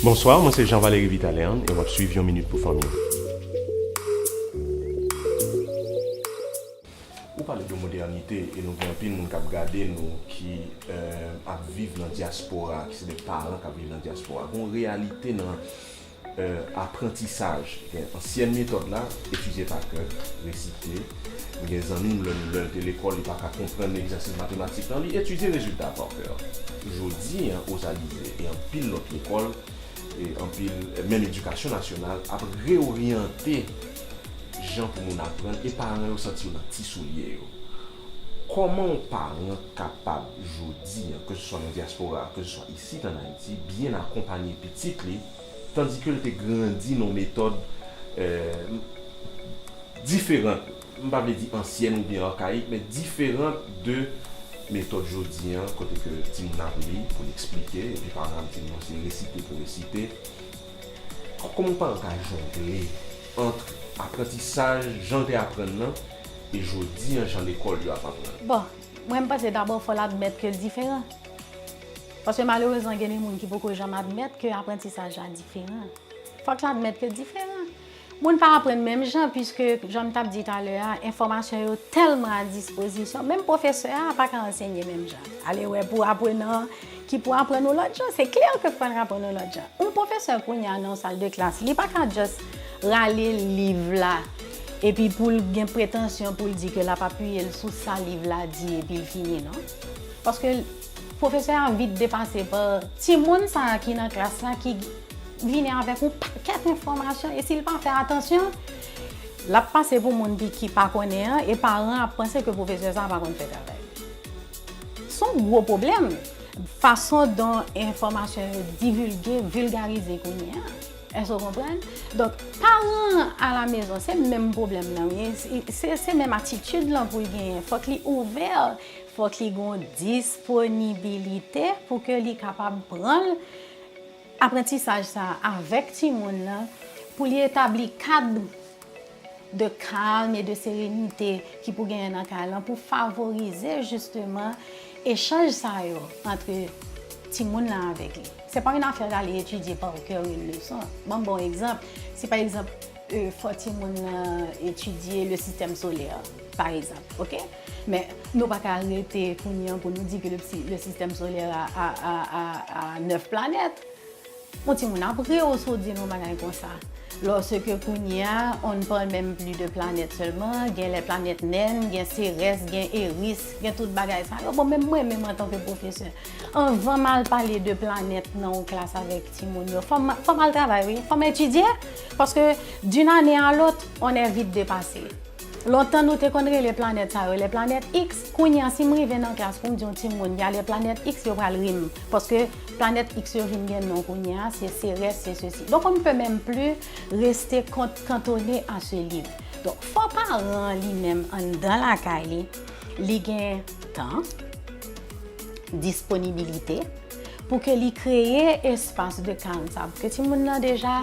Bonsoir, mwen se Jean Valery Vitalean e wap swiv yon minit pou fanmi. Ou pale de modènite e nou gen anpil moun kap gade nou ki ap viv nan dyaspora, ki se de paran kap viv nan dyaspora. Gon reyalite nan aprantisaj, gen ansyen metòd la, etidye pa kè, resite. M gen zanmi m menm lè l te lekòl li pa ka konprann egzèsis matematik nan li etidye rezilta a par coeur. Jodi an Ozalize e anpil lòt lekòl e anpil menm edikasyon nasyonal ap reoryante jan pou moun aprann e paran yo santi yo nan ti soulye yo. Kòman yon paran kapab jodi an ke se swa nan dyaspora ke se swa isit an Ayiti byen akonpanye pitit li tandike l te grandi nan yon metòd diferant, m pa vle di ansyèn oubyen arkayik, men diferant de metòd jodi an kote ke timoun ap li pou l eksplike epi paran l di non se resite pou resite. Kòman yon paran ka jongle ant aprantisaj jan l te aprann nan e jodi an jan lekòl yo ap aprann? Bon, mwen m panse dabò fò l admèt ke l diferan. Paske malerezman gen de moun ki poko janm admèt ke aprantisaj la diferan. Fòk l admèt ke l diferan. Moun pa aprann menm jan piske, jan m t ap di talè a, enfòmasyon yo tèlman a dispozisyon, menm pwofesè a pa ka ansenye menm jan. Alewè pou aprenan an ki pou aprann yon lòt jan. Se klè ke fò l aprann yon lòt jan. Yon pwofesè kounye a nan yon sal de klas, li pa ka just rale liv la epi pou l gen pretansyon pou l di ke l ap apiye l sou sa liv la di epi l fini non. Paske. Pwofesè a vit depase pa timoun sa a ki nan klas la ki vini avèk yon pakèt enfòmasyon e si l pa fè atansyon, l ap pase pou moun ki pa konnen an e paran an ap panse ke pwofesè sa a pa konn fè travay li. Se yon gwo pwoblèm fason don enfòmasyon yo divilge, vilgarize kounye a. Èske ou konprann? Donk, paran an alamezon se menm pwoblèm nan, se menm atitid lan pou l genyen. Fòk li ouvè. Fòk li gon disponibilite pou ke li kapab pran aprantisaj sa avèk timoun nan pou li etabli kad de kalm e de serenite ki pou genyen nan kay lan pou favorize jisteman echanj sa yo antre timoun nan avèk li. Se pa yon afè rale etidye pa okè yon leson. Banm bon egzanp, si pa egzanp fò timoun nan etidye le sistèm solè pa egzanp, ok. Men, nou pa ka rete kounye an pou nou di ke le sistèm solè a 9 planèt. Yon ti moun ap ri w si w di l yon bagay konsa. Lò se ke kounye a, on ne parle même plus de planète seulement, gen lè planèt nen, gen Serès, gen Eris, gen tout bagay sa yo. Bon, menm mwen menm an tan ke pwofesè, anvan m al pale de planèt nan yon klas avèk ti moun yo, fò m al travay wi, fò m etidye, paske d'une année à l'autre, on est vite dépassé. Lontan nou te konn rele planèt sa yo lè planèt X, kounye a si m rive nan klas pou m di yon timoun y ale planèt X yo pral ri m paske planèt X yo vin gen non kounye a se Serès se sesi donk on ne peut même plus rester cantonné à ce livre donk fò paran an li menm anndan lakay li li gen tan disponibilite pou ke li kreye espas de kalm sa pou ke timoun nan deja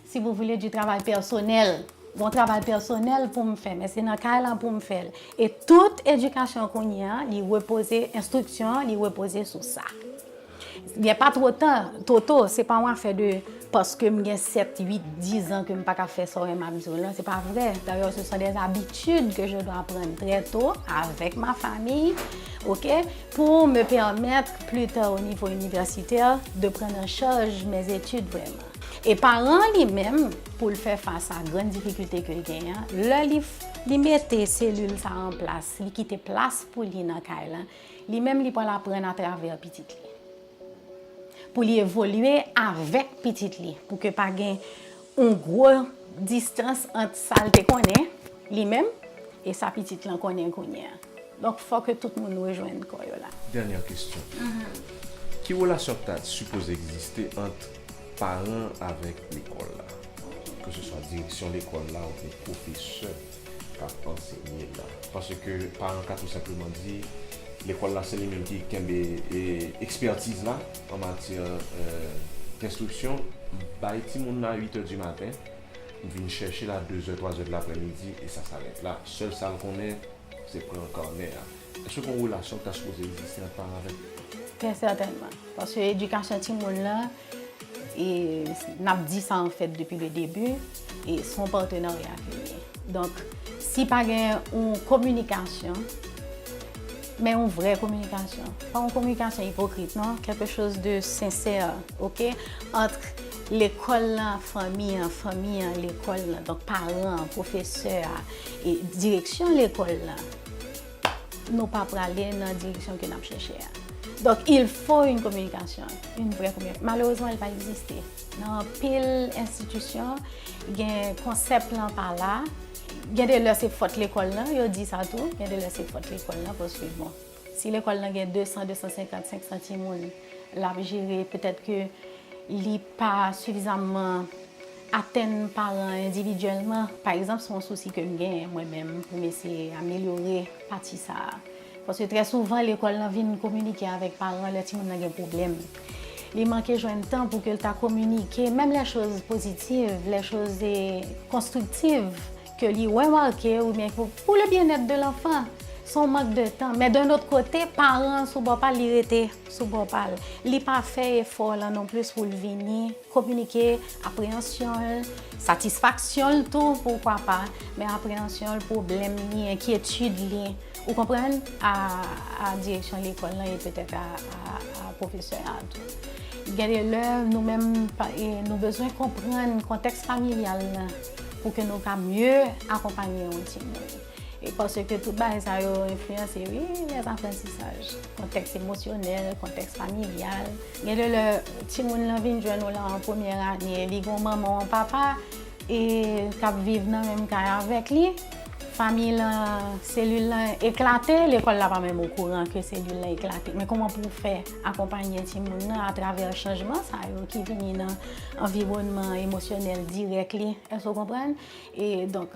Si vous voulez du travail personnel Gon travay pèsonèl poum fè men se nan kay la poum fèl e tout edikasyon kounye a li repoze enstriksyon an li repoze sou sa gen pa two tan two to se pa yon afè de paskem gen 7 8 10 an kem paka fè sa ou menm ap di w lan se pa vre dayè se son des abitid ke je dwa prann trè to avèk ma fami ok pou me pèmèt pli ta o nivo inivèsitè de prann an chaj mes etid vrèman. E paran an li menm, pou l fè fas a grann difikilte ke l genyen an, lè li mete selil sa an plas, li kite plas pou li nan kay lan, li menm li pral aprann atravè pitit li. Pou li evolye avèk pitit li, pou ke pa gen yon gwo distans ant sa l te konnen li menm e sa pitit lan konnen kounye an. Donk fò ke tout moun rejwenn kò yo la. Dènyè kesyon. Ki relasyon k ta sipoze egziste ant paran avèk lekòl la? Ke se swa direksyon lekòl la oubyen pwofesè k ap ansenye la. Paske paran ka tou senpleman di, lekòl la se li menm ki kenbe ekspètiz la an matyè denstriksyon. M bay timoun la uitè di maten. M vin chèche l a dezè twazè de laprèmidi e sa sa rèt la. Sèl sa l konnen se pran kanè a. Èske gon relasyon ki ta sipoze egziste ant paran avèk. Trè sètènman. Paske edikasyon timoun lan, e n ap di sa an fèt depi le debi, e s on patenarya ke l ye. Donk, si pa gen yon kominikasyon. Men yon vrè kominikasyon. Pa yon kominikasyon ipokrit non. Quelque chose de sincère ok entre lekòl la, fanmi an, fanmi an, lekòl la. Donk paran an, pwofesè a, e direksyon lekòl la. Nou pa prale nan direksyon ke n ap chèche a. Donk il fo yon kominikasyon. Yon vrè kominikasyon. Malerezman li pa egziste. Nan anpil enstitisyon gen konsèp lan pa la. Gen de lè se fòt lekòl lan, yo di sa tou, gen de lè se fòt lekòl lan paske bon, si lekòl lan gen 200, 250, 500 timoun l ap jere, petèt ke li pa sifizamman atenn paran endividyèlman. Pa egzanp, se yon sousi ke m genyen mwen menm pou m eseye amelyore pati sa a. Paske trè souvan lekòl lan vin kominike avèk paran lè timoun lan gen pwoblèm. Li manke jwenn tan pou ke l ta kominike menm lè choz pozitiv, lè choz konstriktiv ke li remake oubyen pou le byennèt de lanfan. Se yon mank de tan. Men d'un autre kote, paran an sou bò pa l, li rete sou bò pa l. Li pa fè efò lan non plis pou l vini. Kominike apreyansyon l, satisfaksyon l tou poukwa pa, men apreyansyon l, pwoblèm li, enkyetid li, ou konprann, a direksyon lekòl lan e petèt a pwofesè a tou. Gen de lè nou menm nou bezwen konprann kontèks familyal lan pou ke nou ka mye akonpanye yon timoun. E paske tout bagay sa yo enfliyanse wi lèt aprantisaj. Kontèks emosyonèl, kontèks familyal. Gen de lè timoun lan vin jwenn ou lan premyè ane, li gen yon manman ou yon papa e k ap viv nan menm kay avèk li. Famiy lan, selil lan eklate, lekòl la pa menm okouran ke selil lan eklate. Men kouman pou w fè akonpanye timoun lan atravè chanjman sa yo ki vini nan anviwònman emosyonèl dirèk li. Èske w konprann? E donk.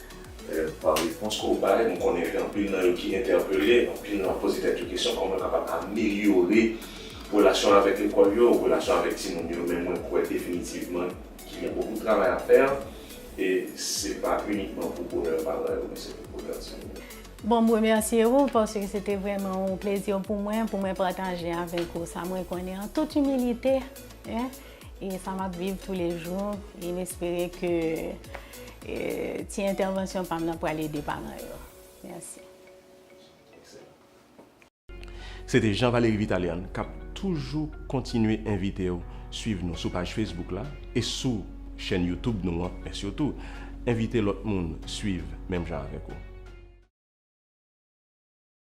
Pa repons ke w bay, m konnen gen anpil nan yo ki entèpele, anpil nan yo poze tèt yo kesyon kòman yo kapab amelyore relasyon avèk lekòl yo, relasyon avèk timoun yo, men mwen kwè definitivman ki gen bokou travay a fè, e se pa inikman pou bonè paran yo, men se pou bonè timoun yo. Bon, m remèsye ou, paske se te vrèman yon plezi pou mwen, pou mwen pataje avèk ou sa mwen konnen an tout imilite, E sa map viv tou le jou e m espere ke ti entèvansyon pam nan pral ede paran yo. Mèsi. Se te Jean Valery Vitalian k ap toujou kontinye envite w suiv nou sou paj Facebook la e sou chèn YouTube nou an men sitou envite lòt moun suiv menm jan avèk ou.